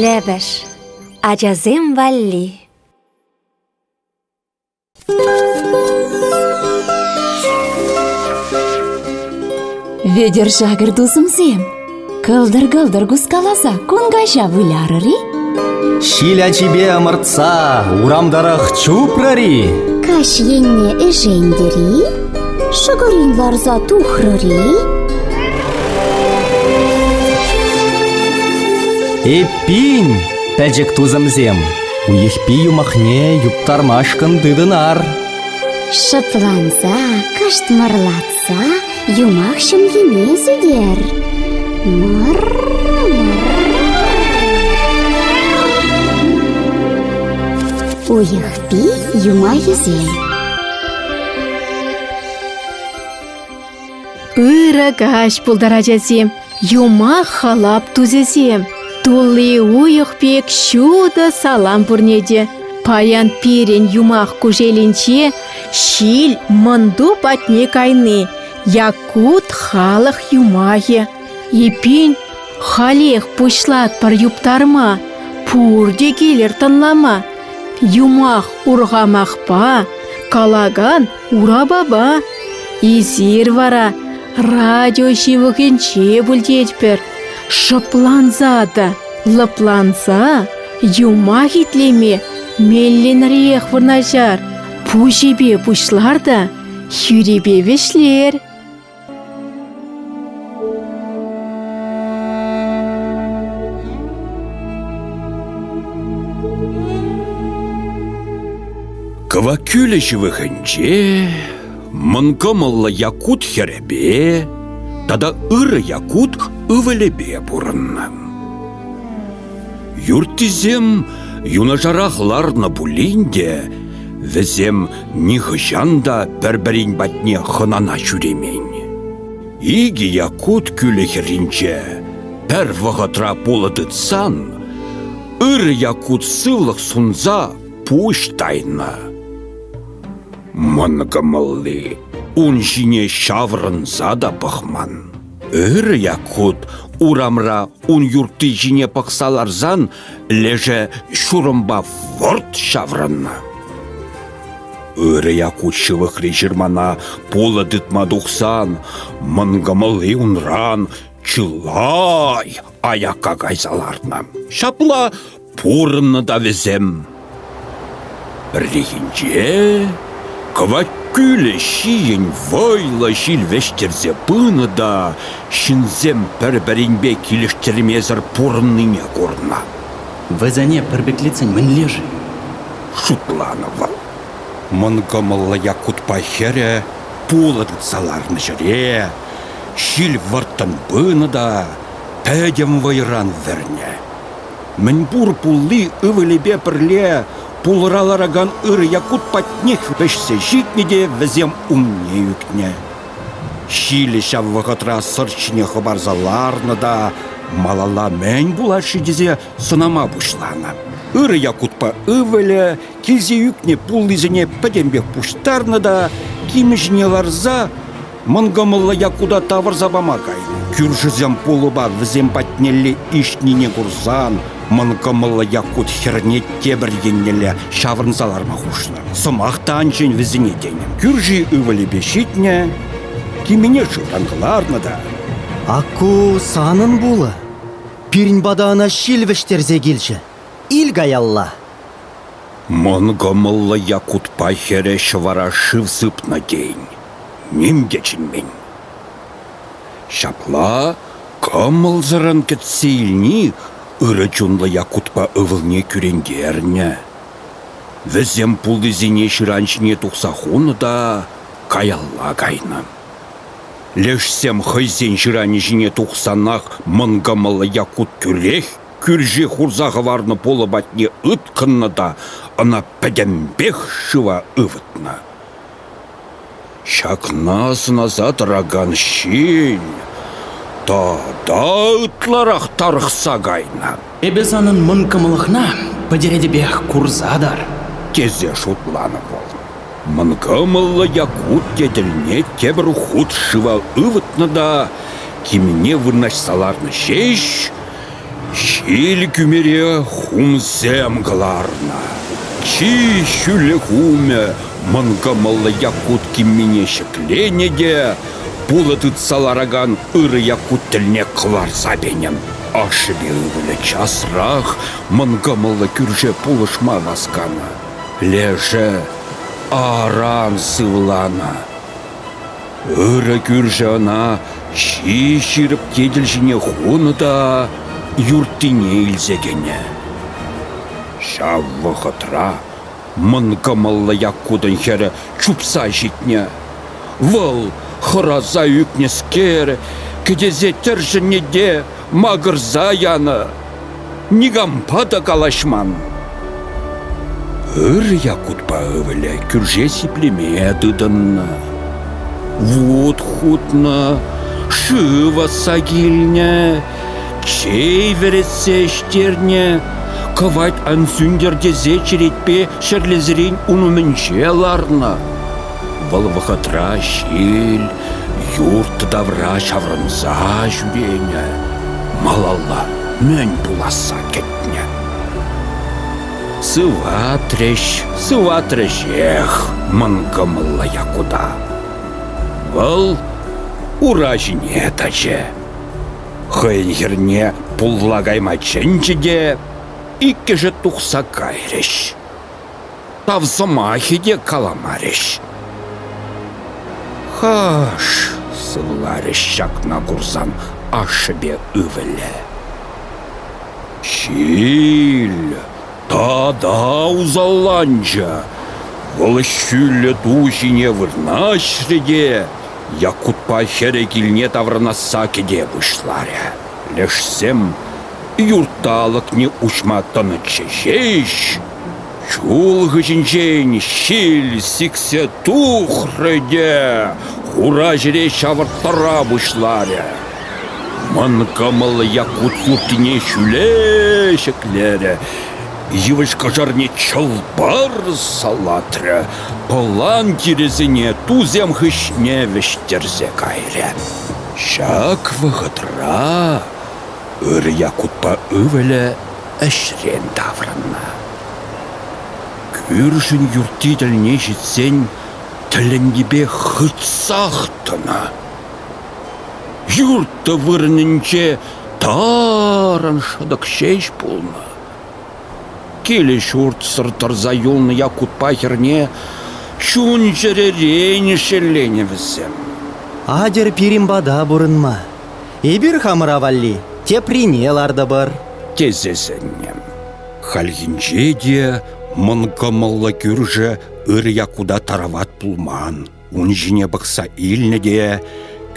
Лӗпӗш ачасем валли Вӧдер шакӑр тусӑмсем, кӑлтӑр-кӑлтӑр кускаласа кун каҫа вылярӑр-и? Ҫил ачипе ӑмӑртса урам тӑрӑх чупрӑр-и? Каҫ енне ӗшентӗр-и? Шӑкӑрин ларса тухрӑр-и? Эппин, пӗчӗк тусӑмсем, Уйӑхпи юмахне юптармашкӑн тытӑнар. Шӑпланса, кӑштмӑрлатса юмах ҫӑмхине сӳтер. Мӑр-мӑр. Уйӑхпи юмахӗсем Ырӑ каҫ пултарать ачасем, юмах халап тусӗсем. Тулли уйӑх пек ҫутӑ салам пурне те. Паян пирӗн юмах кушелӗнче ҫил мӑнту патне кайни, якут халӑх юмахӗ. Эппин, халех пуҫлатпӑр юптарма, пурте килӗр тӑнлама. Юмах урхамахпа калакан Урапапа, эсир вара радио ҫывӑхӗнче пуль тетпӗр. Шӑпланса та лӑпланса юмах итлеме меллӗнрех вырнаҫар. Пуҫӗпе пуҫлар та хӳрипе вӗҫлер. Кӑваккӳлӗ ҫывӑхӗнче мӑнкӑмӑллӑ якут хӗрӗпе тата ырӑ якут ывӑлӗпе пурӑннӑ. Юрттисем юнашарах ларнӑ пулин те вӗсем нихӑҫан та пӗр-пӗрин патне хӑнана ҫӳремен. Икӗ якут кӳлӗ хӗрринче пӗр вӑхӑтра пулӑ тытсан ырӑ якут сывлӑх сунса пуҫ тайнӑ. Мӑнкӑмӑлли ун ҫине ҫаврӑнса та пӑхман. Ырӑ Якут урамра ун юртти ҫине пӑхса ларсан лешӗ ҫурӑмпа вӑрт ҫаврӑннӑ. Ырӑ Якут ҫывӑхри ҫырмана пулӑ тытма тухсан мӑнкӑмӑлли унран чылай аякка кайса лартнӑ. Ҫапла Пурӑннӑ та вӗсем пӗррехинче кӑвак кӳлӗ ҫийӗн вӑйлӑ ҫил вӗҫтерсе пынӑ та ҫынсем пӗр-пӗринпе килӗштермесӗр пурӑннине курнӑ. Вӗсене пӗрпеклетсен мӗнле-ши? шутланӑ вӑл. Мӑнкӑмӑллӑ Якутпа хӗрӗ пулӑ тытса ларнӑ ҫӗре ҫил вӑрттӑн пынӑ та пӗтӗм вӑйран вӗрнӗ. Мӗнпур пулли ывӑлӗпе пӗрле пулӑра ларакан ырӑ Якут патнех вӗҫсе ҫитнӗ те вӗсем умне ӳкнӗ. Ҫилӗ ҫав вӑхӑтра сӑрт ҫине хӑпарса ларнӑ та малалла мӗн пулать-ши тесе сӑнама пуҫланӑ. Ырӑ Якутпа ывӑлӗ килсе ӳкнӗ пуллисене пӗтӗмпех пуҫтарнӑ та, кимӗ ҫине ларса Мӑн кӑмӑллӑ Якута тавӑрса пама кайнӑ. Кӳршӗсем пулӑпа вӗсем патнелле иҫнине курсан мӑн кӑмӑллӑ Якут хӗрне тепӗр еннелле ҫаврӑнса ларма хушнӑ. Сӑмах та ан чӗн вӗсене тенӗ. Кӳрши ывӑлӗпе ҫитнӗ, кимене шывран кӑларнӑ та. Акку санӑн пулӑ. Пирӗн пата ӑна ҫил вӗҫтерсе килчӗ. Ил каялла. Мӑн кӑмӑллӑ Якутпа хӗрӗ ҫӑвара шыв сыпнӑ тен. Ним те чӗнмен. Ҫапла кӑмӑлсӑррӑн кӗтсе илни ырӑ чунлӑ Якутпа ывӑлне кӳрентернӗ. Вӗсем пултисене ҫыран ҫине тухса хунӑ та каялла кайнӑ. Лешсем хӑйсен ҫыранӗ ҫине тухсанах мӑн кӑмӑллӑ Якут тӳрех кӳрши хурса хӑварнӑ пулӑ патне ыткӑннӑ та ӑна пӗтӗмпех шыва ывӑтнӑ. Ҫакна сӑнаса тӑракан ҫил тата ытларах тарӑхса кайнӑ. Эпӗ санӑн мӑн кӑмӑлӑхна пӗтеретӗпех курса тӑр, тесе шутланӑ вӑл. Мӑн кӑмӑллӑ Якут тетелне тепӗр хут шыва ывӑтнӑ та кимне вырнаҫса ларнӑ ҫеҫ Ҫил кӳмере хумсем кӑларнӑ, чи ҫӳллӗ хумӗ мӑн кӑмӑллӑ Якут киммине ҫӗкленӗ те пулӑ тытса ларакан ырӑ Якут тӗлне кӑларса пенӗ. Ашшӗпе ывӑлӗ часрах мӑн кӑмӑллӑ кӳрше пулӑшма васканӑ. Лешӗ аран сывланӑ. Ырӑ кӳршӗ ӑна ҫи ҫирӗп тетел ҫине хунӑ та юрттине илсе кӗнӗ. Ҫав вӑхӑтра мӑнкӑмӑллӑ Яккутӑн хӗрӗ чупса ҫитнӗ. Вӑл хӑраса ӳкнӗскер, кӗтесе тӗршӗннӗ те макӑрса янӑ, никампа та калаҫман. Ырӑ Якутпа ывӑлӗ кӳрше сиплеме тытӑннӑ. Вут хутнӑ, шыв ӑсса килнӗ, чей вӗретсе ӗҫтернӗ. Кӑвайт ан сӳнтер тесе черетпе ҫӗрлесерен ун умӗнче ларнӑ. Вӑл вӑхӑтра ҫил юрт тавра ҫаврӑнса ҫӳренӗ, малалла мӗн пуласса кӗтнӗ. Сыватрӗҫ, сыватрӗҫех мӑнкӑмӑллӑ Якута. Вӑл ура ҫине тӑчӗ. Хӑйӗн хӗрне пулла кайма чӗнчӗ те иккӗшӗ тухса кайрӗҫ. Тав сӑмахӗ те каламарӗҫ. «Хаш!» — сывларӗҫ ҫакна курсан ашшӗпе ывӑлӗ. «Ҫил тата усалланчӗ. Вӑл ҫӳллӗ ту ҫине вырнаҫрӗ те Якутпа хӗрӗ килне таврӑнасса кӗте пуҫларӗ. Лешсем юрт та алӑкне уҫма тӑнӑччӗ ҫеҫ, Чул хыҫӗнчен ҫил сиксе тухрӗ те хура ҫӗре ҫавӑрттара пуҫларӗ. Мӑн кӑмӑллӑ Якку суркине ҫӳле ҫӗклерӗ, йывӑҫ кӑшӑрне чӑл-пар салатрӗ, пӑлан тирӗсене тусем хыҫне вӗҫтерсе кайрӗ. Ҫак вӑхӑтра ыр Яккутпа ывӑлӗ ӗҫрен таврӑннӑ. Кӳршӗн юртти тӗлне ҫитсен тӗлӗннипе хытсах тӑнӑ. Юртӑ вырӑнӗнче тарӑн шӑтӑк ҫеҫ пулнӑ. Килӗ-ҫуртсӑр тӑрса юлнӑ Якутпа хӗрне чун-чӗререн шелленӗ вӗсем. Атьӑр пирӗн пата пурӑнма. Эпир хамӑра валли теприне лартӑпӑр, тесе сӗннӗ. Хальхинче те мӑн кӑмӑллӑ кӳршӗ ырӑ Якута тарават пулман. Ун ҫине пӑхса илнӗ те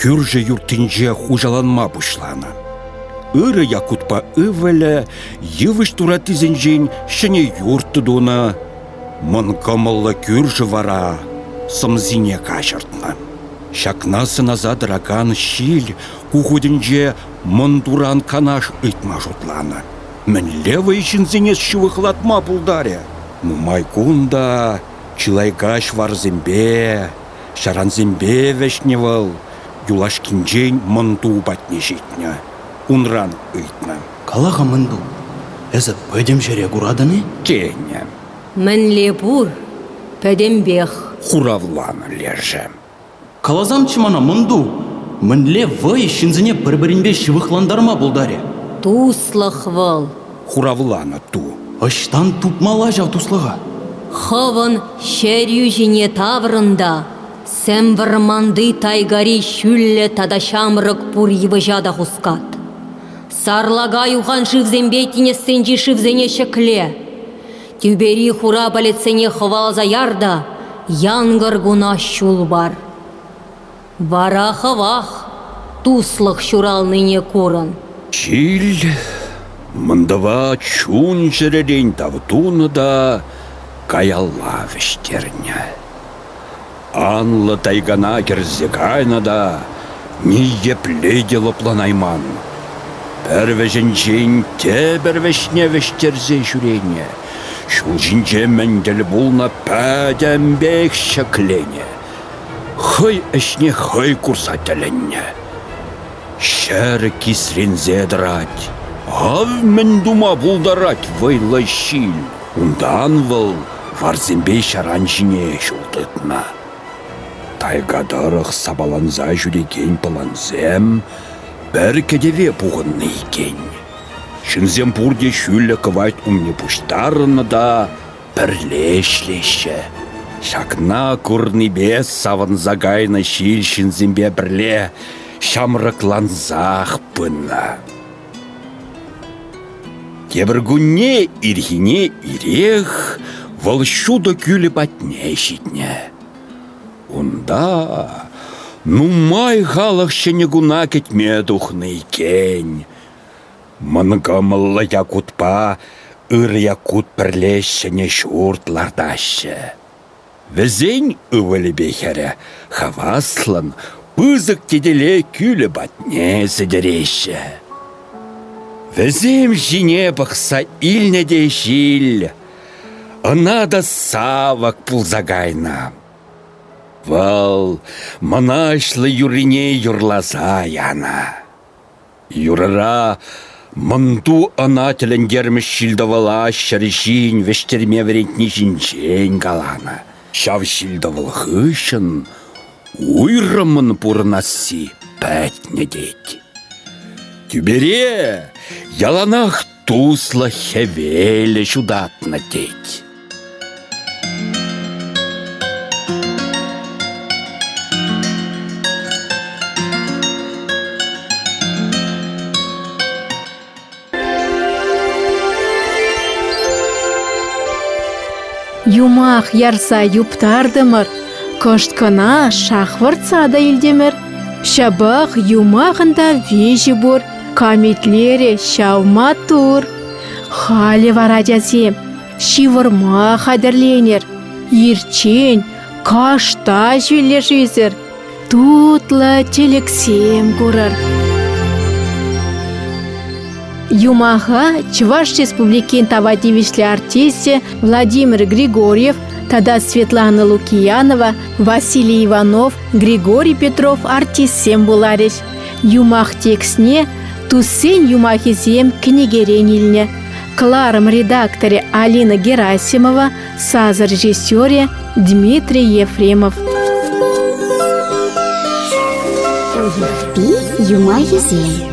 кӳршӗ юрттинче хуҫаланма пуҫланӑ. Ырӑ Якутпа ывӑлӗ йывӑҫ тураттисенчен ҫӗнӗ юрт тунӑ. Мӑн кӑмӑллӑ кӳршӗ вара сӑмсине каҫӑртнӑ. Ҫакна сӑнаса тӑракан ҫил ку хутӗнче мӑн туран канаш ыйтма шутланӑ. Мӗнле вӑй ҫынсене ҫывӑхлатма пултарӗ? Нумай кун та чылай каҫ варсемпе, ҫарансемпе вӗҫнӗ вӑл. Юлашкинчен мӑнту патне ҫитнӗ, унран ыйтнӑ. Кала-ха, мӑнту, эсӗ пӗтӗм ҫӗре куратӑн-и? тенӗ. Мӗнле пур, пӗтӗмпех. Хуравланӑ лешӗ. Каласамччӗ мана, мӑнту, мӗнле вӑй ҫынсене пӗр-пӗринпе ҫывӑхлантарма пултарӗ? Туслӑх вӑл. Хуравланӑ ту. Ӑҫтан тупмалла ҫав туслӑха? Хӑвӑн чӗрӳ ҫине таврӑн та сӗм вӑрманти тайгари ҫӳллӗ тата ҫамрӑк пур йывӑҫа та хускат. Сарлака юхан шывсемпе тинӗссенчи шывсене ҫӗкле, тӳпери хура палетсене хӑваласа яр та янкӑр куна ҫул пар. Вара хӑвах туслӑх ҫуралнине курӑн. Ҫил мӑнтӑва чун-чӗререн тав тунӑ та каялла вӗҫтернӗ. Анлӑ тайгана кӗрсе кайнӑ та ниепле те лӑпланайман, пӗр вӗҫӗнчен тепӗр вӗҫне вӗҫтерсе ҫӳренӗ, ҫул ҫинче мӗн тӗл пулнӑ пӗтӗмпех ҫӗкленӗ, хӑй ӗҫне хӑй курса тӗлӗннӗ. Ҫӗр кисренсе тӑрать. Ав мӗн тума пултарать вӑйлӑ ҫил. Унтан вӑл варсемпе ҫаран ҫине ҫул тытнӑ. Тайга тӑрӑх сапаланса ҫӳрекен пӑлансем пӗр кӗтӗве пухӑннӑ иккен. Ҫынсем пурте ҫӳллӗ кӑвайт умне пуҫтарӑннӑ та пӗрле ӗҫлеҫҫӗ. Ҫакна курнипе савӑнса кайнӑ ҫил ҫынсемпе пӗрле ҫамрӑклансах пынӑ. Тепӗр кунне ирхине ирех вӑл ҫутӑ кӳлӗ патне ҫитнӗ. Унта нумай халӑх ҫӗнӗ куна кӗтме тухнӑ иккен. Мӑнкӑмӑллӑ якутпа ырӑ якут пӗрле ҫӗнӗ ҫурт лартаҫҫӗ. Вӗсен ывӑлӗпе хӗрӗ хаваслӑн пысӑк тетеле кӳлӗ патне сӗтӗреҫҫӗ. Вӗсем ҫине пӑхса илнӗ те ҫил ӑна та савӑк пулса кайнӑ. Вӑл мӑнаҫлӑ юррине юрласа янӑ. Юрӑра мӑнту ӑна тӗлӗнтермӗш ҫил-тӑвӑла ҫӗр ҫин вӗҫтерме вӗрентни ҫинчен каланӑ. Ҫав ҫил-тӑвӑл хыҫҫӑн уйрӑмӑн пурӑнасси пӗтнӗ тет. Тӳпере яланах Туслӑ хӗвелӗ ҫутатнӑ тет. Юмах ярса юптартӑмӑр, кӑшт кӑна шахвӑртса та илтӗмӗр. Ҫапах юмахӑн та виҫи пур, Камитлерӗ ҫав маттур. Халӗ вара, тесем, ҫывӑрма хатӗрленӗр. Ирччен кашта ҫӳллӗшӳсӗр тутлӑ тӗлӗксем курӑр. Юмаха Чӑваш Республикин тава тивӗҫлӗ артисчӗ Владимир Григорьев тата Светлана Лукиянова, Василий Иванов, Григорий Петров артистсем пуларӗҫ. Юмах текстне туссен юмахӗсем кӗнекерен илнӗ. Кларым редакторӗ Алина Герасимова, сасӑр режиссерӗ Дмитрий Ефремов. Юмахӗсем